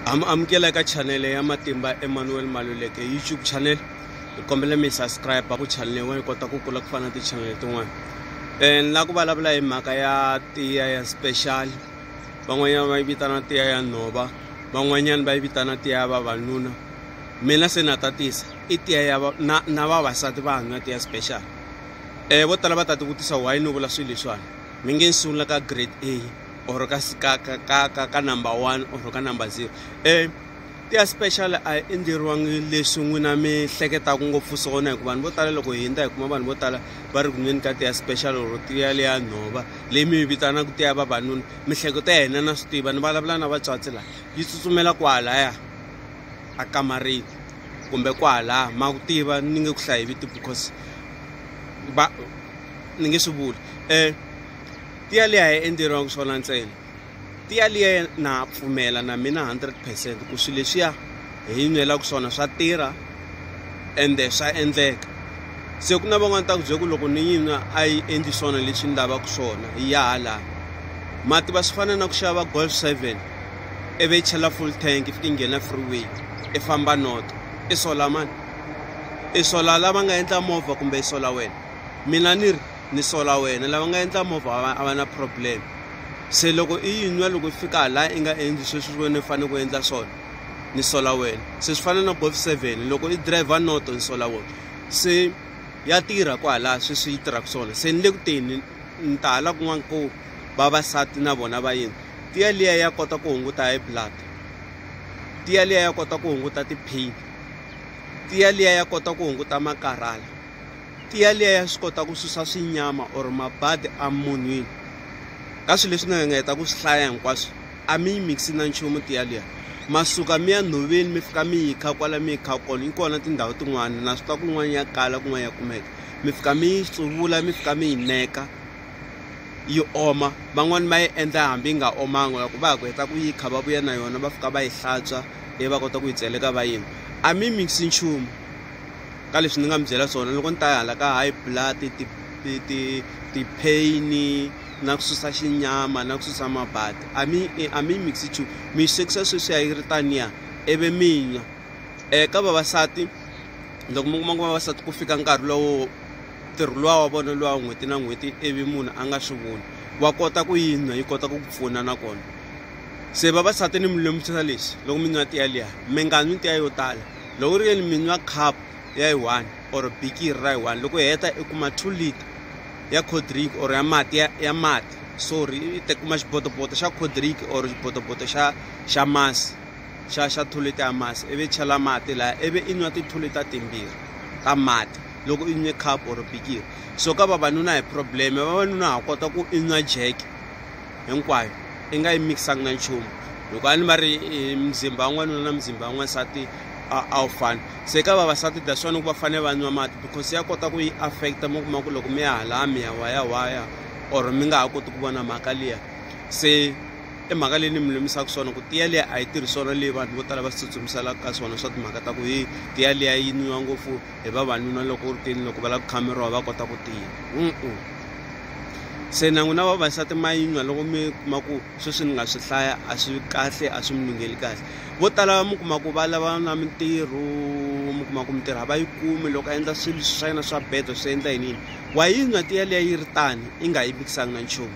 am amukela eka chanele ya matimba emmanuel maluleke youtube channel hi kombela mi subscribe ku chanele yin'wana yi kota ku kula ku fana na tichanele tin'wana um ni lava ku vulavula hi mhaka ya tiya ya special van'wanyana va yi vitana tiya ya nhova van'wanyana va yi vitana tiya ya vavanuna mina se na tatisa i tiya ya na na vavasati va hanya tiya special um vo tala va ta tivutisa why ni vula swilo leswiwani mi nge ni sungula ka grade a or ka ka ka ka ka ka number one or ka number zero um tiya special a yi endleriwangi leswi n'wina mi hleketaka ngopfu swona hikuva vanhu vo tala loko hi hundza hi kuma vanhu vo tala va ri ku nweni ka tiya special or tiya leya nhova leyi mi yi vitanaka tiya vavanuna mihleketo ya hina na swi tiva ni vulavula na vatswatsi laha yi tsutsumela kwahalaya a kamariki kumbe kwahalaha ma ku tiva ni nge ku hlayi viti because va ni nge swi vuli um tiya liya a yi endleriwangi swona ntsena tiya liya na pfumela na mina 100 percent ku swilo leswiya hi yi nwelaka swona swa tirha ende swa endleka se ku na van'wana ta ku bye ku loko ni yi nwa a yi endli swona leswi ni lavaka swona yi ya hala mati va swi fana na ku xava golf seven ivi yi chela full tank i fike yi nghena freeway i famba not i sola mani i sola lava nga endla movha kumbe i sola wena mina ni ri ni sola wena lava nga endla movha a va na problem se loko i yi nwa loko i fika laha i nga endli sweswi wena i fanele ku endla swona ni sola wena se swi fana na golf seven loko i driver noto ni sola wena se ya tirha kwalaha sweswi yi tirhaka swona se ni le ku teni ni ta hala kun'wana ko vavasati na vona va yini tiya liya ya kota ku hunguta high blood tiya liya ya kota ku hunguta ti-pain tiya liya ya kota ku hunguta makarhala tiya liya ya swi kota ku susa swinyama or mabadi emunhwini ka swilo leswi nga nga heta ku swi hlaya hinkwaswo a mi yi mixi na nchumu tiya liya masuka mi ya nhoveni mi fika mi yi kha kwala mi yi kha kona yi kona tindhawu tin'wana na swi tiva kun'wana ya kala kun'wana ya kumeka mi fika mi yi tsuvula mi fika mi yi neka yi oma van'wani va yi endla hambi yi nga omanga loko va ha ku heta ku yi kha va vuya na yona va fika va yi hlantswa ivi va kota ku yi tseleka va yini a mi mixi nchumu ka leswi ni nga mi byela swona loko ni ta ya hala ka high blood ti ti ti ti-pain na ku susa xinyama na ku susa mabadi a mi a mi mixi chu mi yi swekisa sweswi ya yi ri taniya ivi mi nwa um ka vavasati loko mi kuma ku vavasati ku fika nkarhi lowo ntirho luwa wa vona luwa n'hweti na n'hweti ivi munhu a nga swi voni wa kota ku yi nwa yi kota ku ku pfuna nakona se vavasati ni mi lemukisa lexi loko mi nwa tiya liya mi nga nwi tiya yo tala loko u ri yini mi nwa cup ya yi one or bikiri ra yi one loko hi heta i kuma two liter ya cold drink or ya mati ya, ya mati sorry i ta kuma xibotoboto xa cold drink or xibotoboto xa xa masi xa xa two liter ya masi ivi chela mati laha ivi i nwa ti-two liter timbirhi ta mati loko i nwe cup or bikiri so ka vavanuna hi problem vavanuna ha kota ku i nwa jeke hinkwayo i nga yi mikisangi na nchumu loko a ni va ri e, mzimba wan'wanuna na mzimba wan'wansati a wu fani se ka vavasati that's wani ku va fanele va nwa mati because ya kota ku yi affecta mi kuma ku loko mi ya halaya mi ya wayawaya or mi nga ha koti ku vona mhaka liya se i mhaka leyi ni mi lumisaka swona ku tiya liya a yi tirhi swona leyi vanhu vo tala va swi tsutsumisaka ka swona swa timhaka ta ku hi tiya liya yi nwiwa ngopfu hi vavanuna loko u ri tini loko va lava ku khameriwa va kota ku tiya se na n'wina vavasati ma yinywa loko mi kuma ku sweswi ni nga swi hlaya a swi kahle a swi mi lungheli kahle vo tala mi kuma ku va lava na mintirho mi kuma ku mintirho a va yi kumi loko a endla swilo swa yena swa bedo swi endla yini yini wa yinywa tiya liya yi ri tani i nga yi mikisanga na nchumu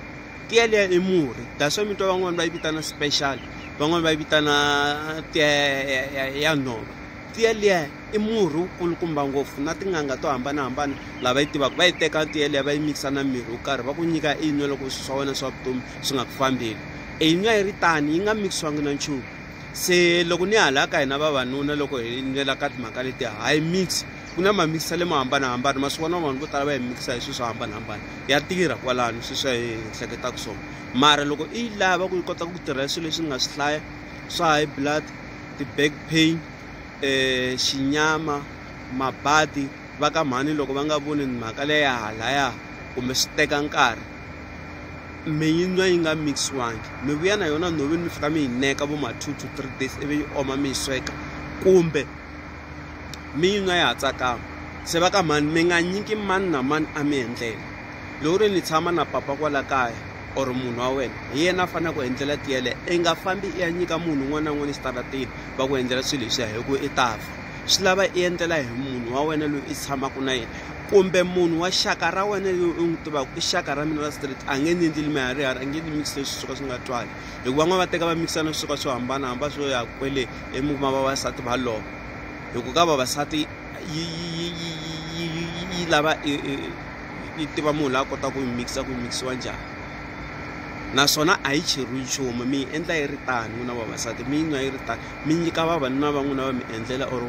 tiya liya i murhi that's why mi twa van'wani va yi vitana special van'wani va yi vitana tiya ya nhova tiya liya I murhi wu kulukumba ngopfu na tin'anga to hambanahambana lava yi tivaka va yi teka tiya liya va yi mikisa na mirhi wo karhi va ku nyika i yinwa loko swi swa wena swa vutomi swi nga ku fambeli i yinwa yi ri tani yi nga mikisiwangi na nchumu se loko ni hala ka hina vavanuna loko hi nwela ka timhaka leti hayi mix ku na mamikisa lemo hambanahambana ma swi vona vanhu vo tala va yi mikisa hi swilo swo hambanahambana ya tirha kwalano sweswi swa hi hleketaka swona mara loko i yi lava ku yi kota ku tirha swilo leswi ni nga swi hlaya swa high blood ti-back pain eh, xinyama mabadi va ka mhani loko va nga voni mhaka leya halaya kumbe swi teka nkarhi mi yi nwa yi nga mixiwangi mi vuya na yona nhoveni mi fika mi yi neka vo ma two to three days ivi yi oma mi yi sweka kumbe mi yi nwa yi ha tsakama se va ka mhani mi nga nyiki mani na mani a mi endlela loko ri ni tshama na papa kwala kaya or munhu wa wena hi yena a faneleke ku endlela tiya leyi i nga fambi i ya nyika munhu un'wana na un'wana exitarateni va ku endlela swilo leswiya hi ku i ta fa swi lava i endlela hi munhu wa wena loyi i tshamaka na yena kumbe munhu wa xaka ra wena loyi u n'wi tivaka i xaka ra mina ra street a nge ni endleli miharihari a nge ni mikisi leswi swo ka swi nga twali hikuva van'wana va teka va mikisa na swo ka swo hambanahambana swo ya kwele emikuma vavasati va lova hi ku ka vavasati yi yi yi yi yi yi lava yi tiva munhu la kota ku yi mikisa ku yi mikisiwa njhani naswona a yi cheriwi nchumu mi yi endla yi ri tani n'wina vavasati mi yi nwa yi ri tani mi nyika vavanuna va n'wina va mi endlela or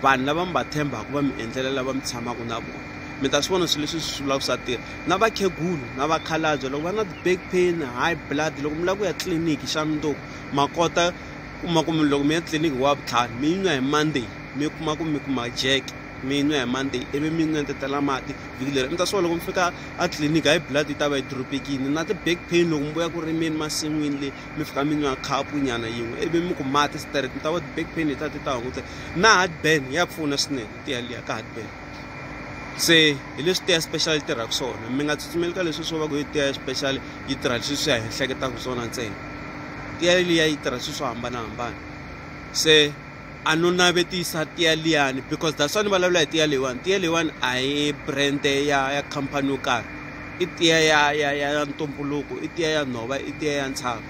vanhu lava mi va tshembaka va mi endlela lava mi tshamaka na vona mi ta swi vona swilo leswi swi vulaka swa tirha na vakhegulu na vakhalabye loko va na ti-back pain high blood loko mi lava ku ya tliliniki xa mundzuku ma kota kuma ku mi loko mi ya tliliniki hi wavutlhanu mi yi nwa hi monday mi kuma ku mi kuma jeke. mi yi nwa hi monday ivi mi nwa ntetela mati vhiki leri ni ta swa loko mi fika a tliliniki hayi blood yi ta va yi dropekini na ti-back pain loko mi vuya ku rimeni masin'wini le mi fika mi nwa khapu nyana yin'we ivi mi ku mati straight mi ta va ti-back pain hi ta ti ta hunguteka na heartburn ya pfuna swinene tiya liya ka heartburn se hi leswi tiya special yi tirhaka swona mi nga tsutsumeli ka leswi swo va ku yi tiya special yi tirha leswi swi ya hi hleketaka swona ntsena tiya liya yi tirha swilo swo hambanahambana se a no navetisa tiya liyani because that's why ni vulavula hi tiya leyiwani tiya leyiwani a hi brand ya ya khampani yo karhi i tiya ya ya ya ntumbuluko i tiya ya nhova i tiya ya ntshava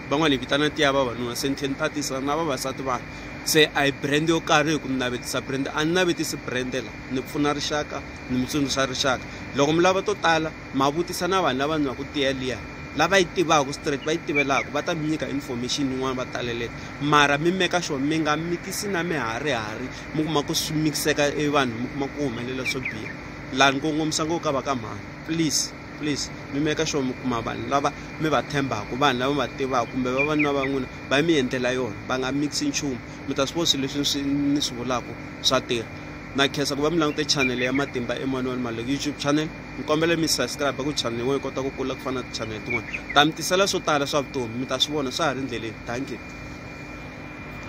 van'wani hi vitana tiya vavanuna se ni tlhe ni tatisa na vavasati vanhu se a hi brand yo karhi hi ku ni navetisa brand a ni navetisi brand la ni pfuna rixaka ni mi tsundzuxa rixaka loko mi lava to tala Ma vutisa na vanhu lava nwaku tiya liya, lava yi tivaku straight, va yi tivelaku, va ta mi nyika information yin'wana va taleleta. Mara mi meka sure mi nga mikisi na miharihari, mi kuma ku swi mikiseka e vanhu mi kuma ku ku humelela swo biha. La ni kongomisa ngopfu ka va ka mhani, please, please mi meka sure mi kuma vanhu lava mi va tshembaku, vanhu lava mi va tivaku kumbe vavanuna va n'wina va mi endlela yona, va nga mikisi nchumu. Mi ta swi vona swilo leswi ni swi ni swi vulaku swa tirha. Na khensa ku va mi langute channel ya Matimba Emmanuel Maluleke YouTube channel. ni kombela mi subscribe ku channel yin'wana yi kota ku kula ku fana na ti-channel tin'wana ta mi tisela swo tala swa vutomi mi ta swi vona swa ha ri ndleleni thank you